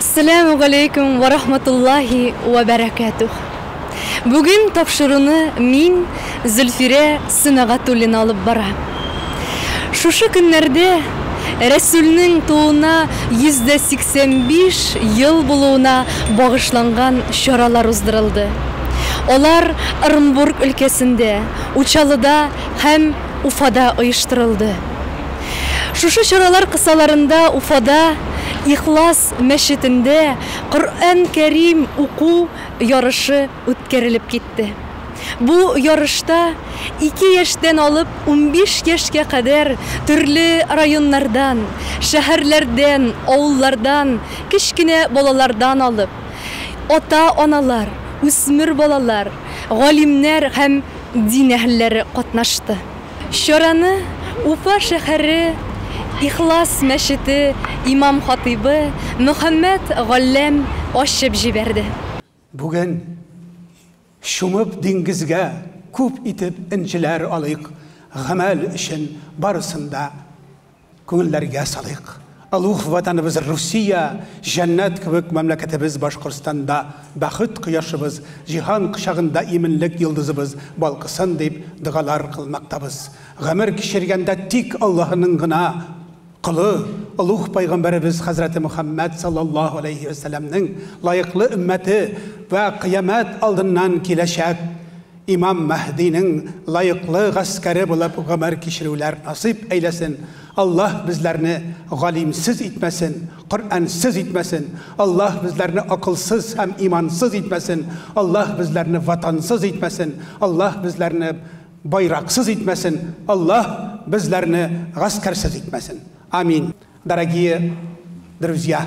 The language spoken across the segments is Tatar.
Сәләмү галәйкүм вә рахматуллаһи вә бәрәкәтүһ. Бүген тапшыруны мин, Зөлфирә Сөнәгатуллина алып бара. Шушы көннәрдә Рәсүлнең тууына 185 ел булуына багышланган чаралар уздырылды. Алар Ырынбург өлкәсендә, Учалыда һәм Уфада оештырылды. Шушы чаралар кысаларында Уфада Ихлас мәчетендә Коръән Кәрим уку ярышы үткәрелеп китте. Бу ярышта ике яшьтән алып унбиш яшькә кадәр төрле районнардан, шәһәрләрдән, авыллардан, кечкенә балалардан алып, ата-аналар, үсмер балалар, галимнәр һәм дин әһелләре катнашты. Чараны Уфа шәһәре Ихлас мәчете имам-хатыйбы Мөхәммәт Галләм ачып җибәрде. Бүген чумып диңгезгә Күп итеп энҗеләр алыйк, Гамәл өчен барысын да. Күңелләргә салыйк, олуг Ватаныбыз Русия, җәннәт кебек мәмләкәтебез Башкортстанда бәхет кояшыбыз, җиһан кочагында иминлек йолдызыбыз балкысын дип догалар кылмактабыз. Гомер кичергәндә тик Аллаһының гына колы, олуг Пәйгамбәребез хәзрәте Мөхәммәд саллаллаһу аләйһи вә сәләмнең лаеклы өммәте вә кыямәт алдыннан киләчәк Имам Мәһдинең лаеклы гаскәре булып гомер кичерүләр насыйп әйләсен, Аллаһ безләрне галимсез итмәсен, Коръәнсез итмәсен, Аллаһ безләрне акылсыз һәм имансыз итмәсен, Аллаһ безләрне ватансыз итмәсен, Аллаһ безләрне байраксыз итмәсен, Аллаһ безләрне гаскәрсез итмәсен. Амин. Дорогие друзья!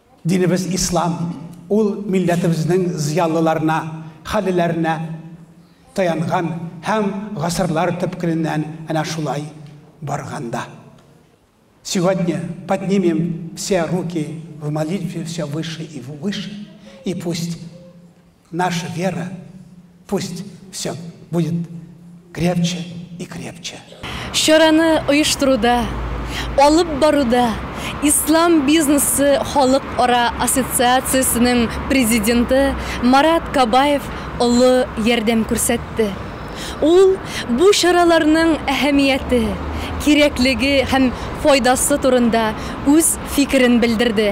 Динебез ислам, ул милләтебезнең зыялыларына, хәллеләренә таянган һәм гасырлар төпкеленнән әнә шулай барган да. Сегодня поднимем все руки в молитве все выше и выше, и пусть Наша вера пусть все будет крепче и крепче. Чараны оештыруда, алып баруда Ислам бизнесы халыкара ассоциациясенең президенты Марат Кабаев олы ярдәм күрсәтте. Ул бу чараларның әһәмияте, кирәклеге һәм файдасы турында үз фикерен белдерде.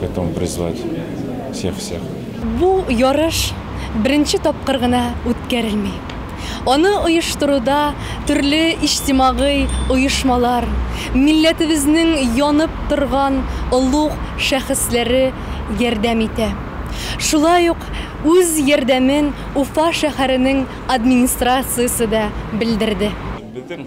Готовым призвать всех всех. Бу ярыш беренче тапкыр гына үткәрелми. Аны оештыруда төрле иҗтимагый оешмалар, милләтебезнең янып торган олуг шәхесләре ярдәм итә. Шулай ук үз ярдәмен Уфа шәһәренең администрациясе дә белдерде. Безнең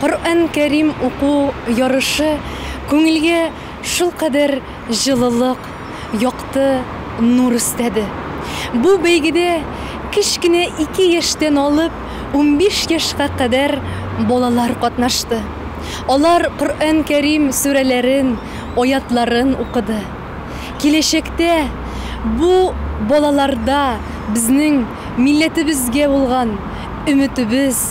Коръән Кәрим уку ярышы күңелгә шулкадәр җылылык, якты нур өстәде. Бу бәйгедә кечкенә ике яшьтән алып унбиш яшькә кадәр балалар катнашты. Алар Коръән Кәрим сүрәләрен, аятларын укыды. Киләчәктә бу балаларда безнең милләтебезгә булган өметебез,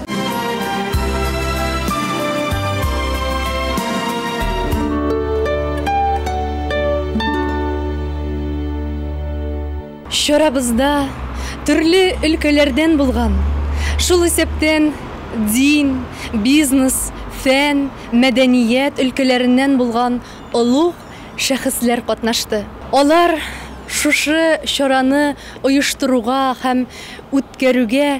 Чарабызда төрле өлкәләрдән булган, шул исәптән дин, бизнес, фән, мәдәният өлкәләреннән булган олуг шәхесләр катнашты. Алар шушы чараны оештыруга һәм үткәрүгә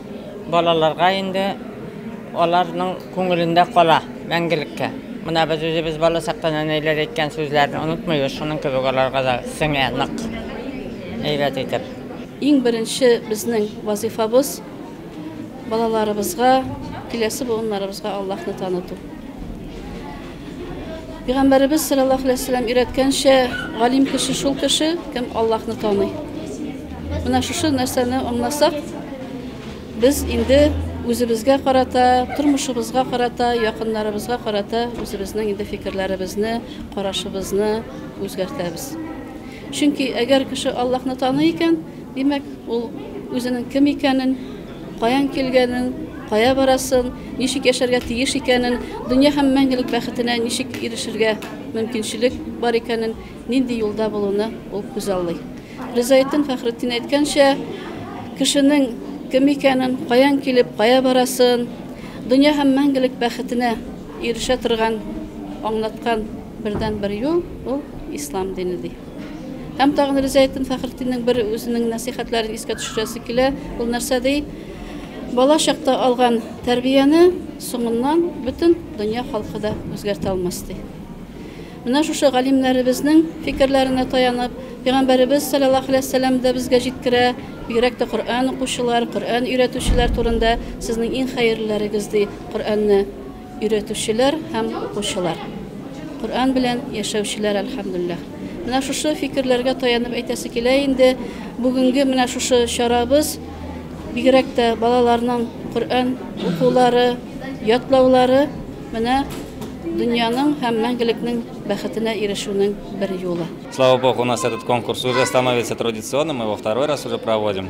Балаларга инде аларның күңелендә кала мәңгелеккә. Менә без үзебез бала чакта нәнәйләр әйткән сүзләрне онытмыйбыз, шуның кебек аларга да сеңә нык, әйбәт итеп. Иң беренче безнең вазыйфабыз, балаларыбызга, киләсе буыннарыбызга Аллаһны таныту. Пигамбәребез саллаллаху алейһи вәсәлләм өйрәткәнчә, галим кеше шул кеше, кем Аллаһны таный. Менә шушы нәрсәне аңласак, без инде үзебезгә карата, тормышыбызга карата, якыннарыбызга карата үзебезнең инде фикерләребезне, карашыбызны үзгәртәбез. Чөнки әгәр кеше Аллаһны таный икән, димәк, ул үзенең кем икәнен, Каян килгәнен, кая барасын, ничек яшәргә тиеш икәнен, дөнья һәм мәңгелек бәхетенә ничек ирешергә мөмкинчелек бар икәнен, нинди юлда булуны ул күзаллый. Ризаэддин Фәхретдин әйткәнчә, кешенең кем икәнен, каян килеп, кая барасын, дөнья һәм мәңгелек бәхетенә ирешә торган аңлаткан бердәнбер юл ул Ислам дине, ди. Һәм тагын Ризаэттин Фәхретдиннең бер үзенең нәсыйхәтләрен искә төшерәсе килә. Ул нәрсә ди? Бала чакта алган тәрбияне соңыннан бөтен дөнья халкы да үзгәртә алмас ди. Менә шушы галимнәребезнең фикерләренә таянып, Пәйгамбәребез саллаллаһу алейһи вәсәлләм дә безгә җиткерә, бигрәк тә Коръән укучылар, Коръән өйрәтүчеләр турында, сезнең иң хәерлеләрегез ди Коръәнне. Өйрәтүчеләр һәм укучылар. Коръән белән яшәүчеләр, әлхәмдүлилләһ. Менә шушы фикерләргә таянып әйтәсе килә инде, бүгенге менә шушы чарабыз, бигрәк тә балаларның Коръән укулары, ятлаулары, менә дөньяның һәм мәңгелекнең бәхетенә ирешүнең бер юлы. Слава Богу, у нас этот конкурс уже становится традиционным, мы его второй раз уже проводим.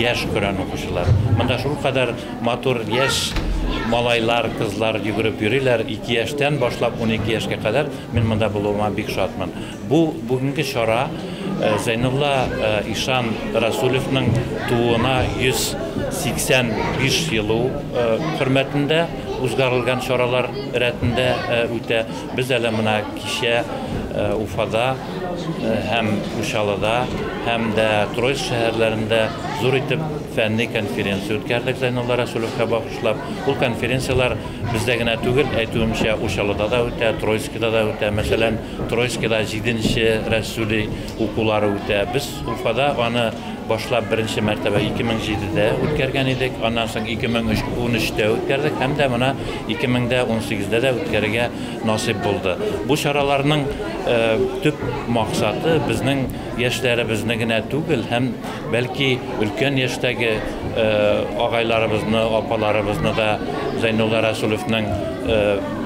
Яшь Коръән укучылар. Монда шулкадәр матур яшь малайлар, кызлар йөгереп йөриләр. 2 яшьтән башлап 12 яшькә кадәр мин монда булуыма бик шатмын. Бу бүгенге чара э, Зәйнулла э, Ишан Расулевның тууына 185 елу э, хөрмәтендә узгарылган чаралар рәтендә үтә. Без әле менә Кичә Уфада һәм Учалыда һәм дә Троицк шәһәрләрендә зур итеп фәнни конференция үткәрдек Зәйнулла Рәсүлевкә багышлап. Ул конференцияләр бездә генә түгел, әйтүемчә, Учалыда да үтә, Троицкида да үтә. Мәсәлән, Троицкида җиденче Рәсүли укулары үтә. Без Уфада аны башлап беренче мәртәбә 2007дә үткәргән идек, аннан соң 2013дә үткәрдек һәм дә менә 2018дә дә үткәрергә насыйп булды. Бу чараларның төп максаты безнең яшьләребезне генә түгел, һәм бәлки өлкән яшьтәге агайларыбызны, апаларыбызны да Зәйнулла Рәсүлевнең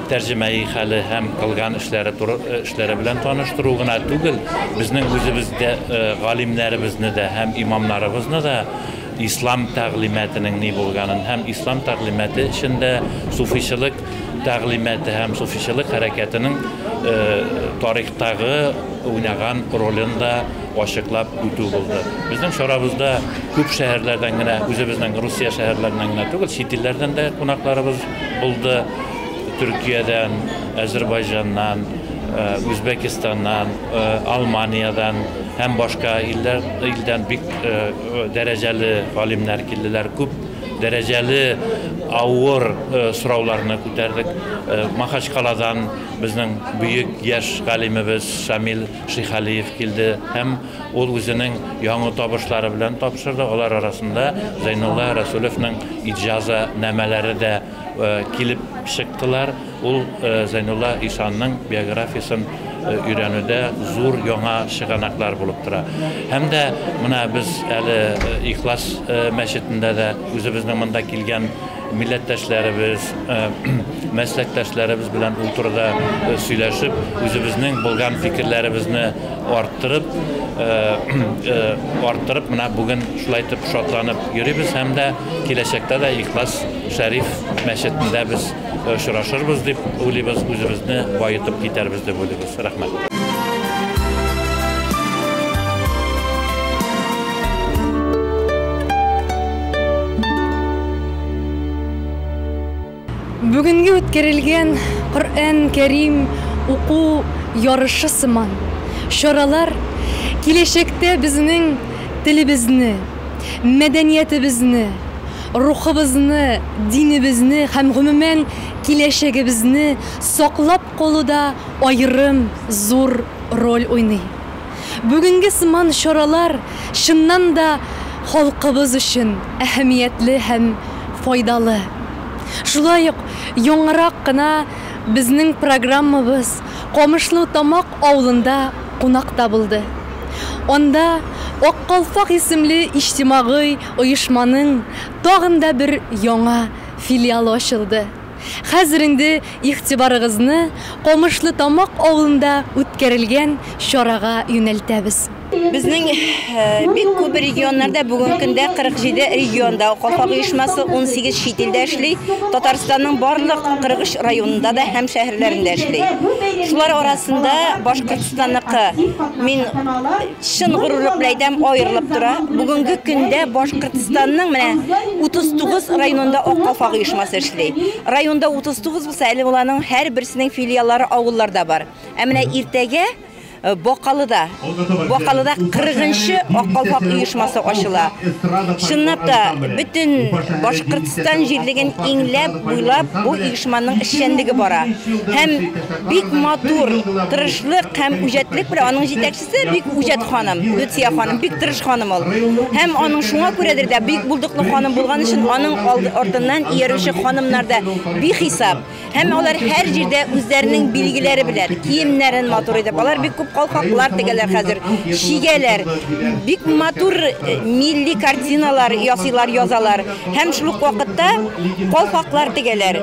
тәрҗемәи хәле һәм кылган эшләре туры эшләре белән таныштыру гына түгел, безнең үзебездә галимнәребезне дә һәм имамнарыбызны да ислам тәгълиматының ни булганын һәм ислам тәгълиматы эчендә суфичылык тәгълиматы һәм суфичылык хәрәкәтенең тарихтагы уйнаган ролен да ачыклап үтү булды. Безнең чарабызда күп шәһәрләрдән генә, үзебезнең Русия шәһәрләреннән генә түгел, чит илләрдән дә кунакларыбыз булды. Төркиядән, Әзербайҗаннан, Үзбәкистаннан, Алманиядән һәм башка илләр илдән бик дәрәҗәле галимнәр килделәр. Күп дәрәҗәле авыр сорауларны күтәрдек. Махачкаладан безнең бөек яшь галимебез Шамил Шихалиев килде һәм ул үзенең яңа табышлары белән тапшырды. Алар арасында Зәйнулла Рәсүлевнең иҗаза намәләре дә килеп чыктылар. Ул Зәйнулла ишанның биографиясен өйрәнүдә зур яңа чыганаклар булып тора. Һәм дә менә без әле Ихлас мәчетендә дә үзебезнең монда килгән милләттәшләребез, мәсләктәшләребез белән ул турыда сөйләшеп, үзебезнең булган фикерләребезне арттырып, арттырып, менә бүген шулай итеп шатланып йөрибез һәм дә киләчәктә дә Ихлас Шәриф мәчетендә без очрашырбыз дип уйлыйбыз, үзебезне баетып китәрбез дип уйлыйбыз. Рәхмәт. Бүгенге үткәрелгән Коръән Кәрим уку ярышы сыман чаралар киләчәктә безнең телебезне, мәдәниятебезне, рухыбызны, динебезне һәм, гомумән, киләчәгебезне саклап калуда аерым зур роль уйный. Бүгенге сыман чаралар, чыннан да, халкыбыз өчен әһәмиятле һәм файдалы. Шулай ук яңарак кына безнең программабыз Камышну Тамак авылында кунакта булды. Анда Ак калфак исемле иҗтимагый Оешманың тагын да бер яңа филиалы ачылды. Хәзер инде игътибарыгызны Камышлытамак авылында үткәрелгән чарага юнәлтәбез. Безнең бик күп регионнарда, бүгенге көндә 47 регионда Калфак оешмасы, 18 чит илдә эшли, Татарстанның барлык 43 районында да һәм шәһәрләрендә эшли. Шулар арасында Башкортстанныкы, мин Чын горурлык белән әйтәм, аерылып тора. Бүгенге көндә Башкортстанның менә 39 районында Ак калфак оешмасы эшли. Районда 39 булса, әле уланың һәр берсенең филиаллары авылларда бар. Ә менә иртәгә Э, Бакалыда. Бакалыда 40-нчы Аккалфак оешмасы ачыла. Чынлап та бөтен Башкортстан җирлеген иңләп, буйлап бу оешманың эшчәнлеге бара. Һәм бик матур, тырышлык һәм үҗәтлек белән аның җитәкчесе Сез бик үҗәт ханым, Люция ханым, бик тырыш ханым ул. Һәм аның шуңа күрәдер дә бик булдыклы ханым булган өчен аның артыннан иярүче ханымнар да бихисап. Һәм алар һәр җирдә үзләренең билгеләре белән киемнәрен матур итеп, алар бик күп калфаклар тегәләр хәзер, чигәләр. Бик матур э, милли картиналар ясыйлар, язалар. Һәм шул ук вакытта калфаклар тегәләр.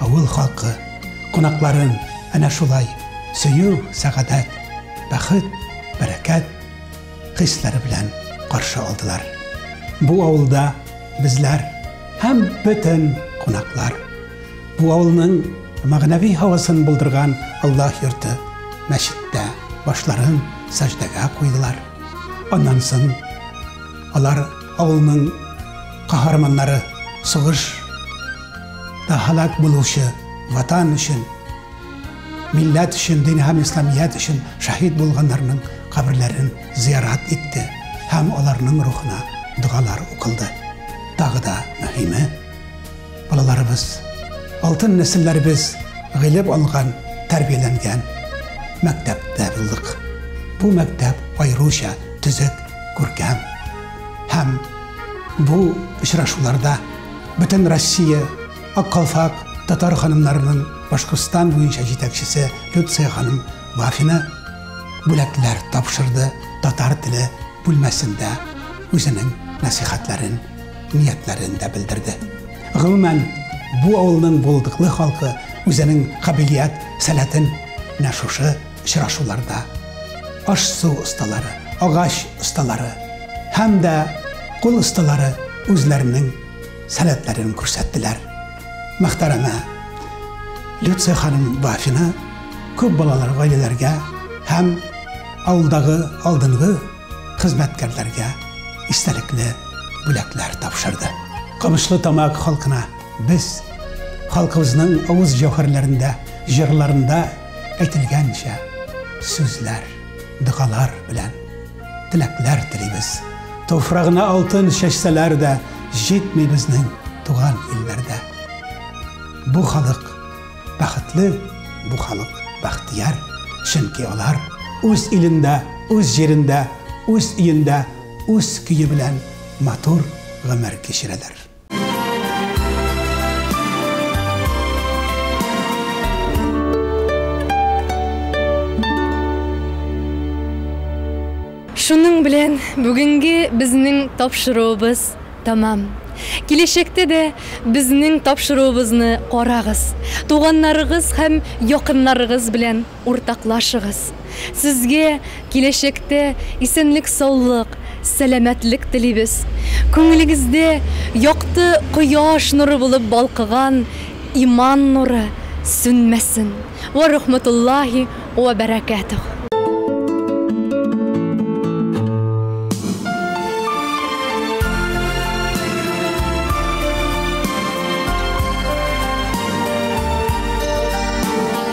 Авыл халкы кунакларын әнә шулай сөю, сәгадәт, бәхет, бәрәкәт хисләре белән каршы алдылар. Бу авылда безләр һәм бөтен кунаклар. Бу авылның мәгънәви һавасын булдырган Аллаһ йорты мәчеттә башларын сәҗдәгә куйдылар. Аннан соң алар авылның каһарманнары сугыш Да һәлак булучы Ватан өчен, милләт өчен, дин һәм Исламият өчен шәһит булганнарның каберләрен зиярат итте һәм аларның рухына догалар укылды. Тагы да мөһиме, балаларыбыз, алтын нәселләребез гыйлем алган, тәрбияләнгән мәктәптә булдык. Бу мәктәп аеруча төзек, күркәм һәм бу очрашуларда Бөтен Россия аккалфак татар ханымнарының Башкортстан буенча җитәкчесе Люция ханым Вафина бүләкләр тапшырды татар теле бүлмәсендә үзенең нәсихәтләрен, ниятләрен дә белдерде. Гомумән, бу авылның булдыклы халкы үзенең кабилият сәләтен менә шушы очрашуларда аш-су осталары, агач осталары һәм дә кул осталары үзләренең сәләтләрен күрсәттеләр. Мөхтәрәмә Люция ханым Бафина күп балалар гаиләләргә һәм авылдагы алдынгы хезмәткәрләргә истәлекле бүләкләр тапшырды. Камышлы Тамак халкына без халкыбызның авыз җәүһәрләрендә, җырларында әйтелгәнчә, сүзләр, догалар белән теләкләр телибез. Туфрагына алтын чәчсәләр дә, җитми безнең туган илләрдә. Бу халык бәхетле, бу халык бәхтияр, чөнки алар үз илендә, үз җирендә, үз өендә, үз көе белән матур гомер кичерәләр. Шуның белән бүгенге безнең тапшыруыбыз тәмам. Киләчәктә дә безнең тапшыруыбызны карагыз, туганнарыгыз һәм якыннарыгыз белән Уртаклашыгыз. Сезгә киләчәктә исәнлек-саулык, сәламәтлек телибез. Күңелегездә якты кояш нуры булып балкыган иман нуры сүнмәсен. Вә рахматуллаһи вә бәрәкәтүһ.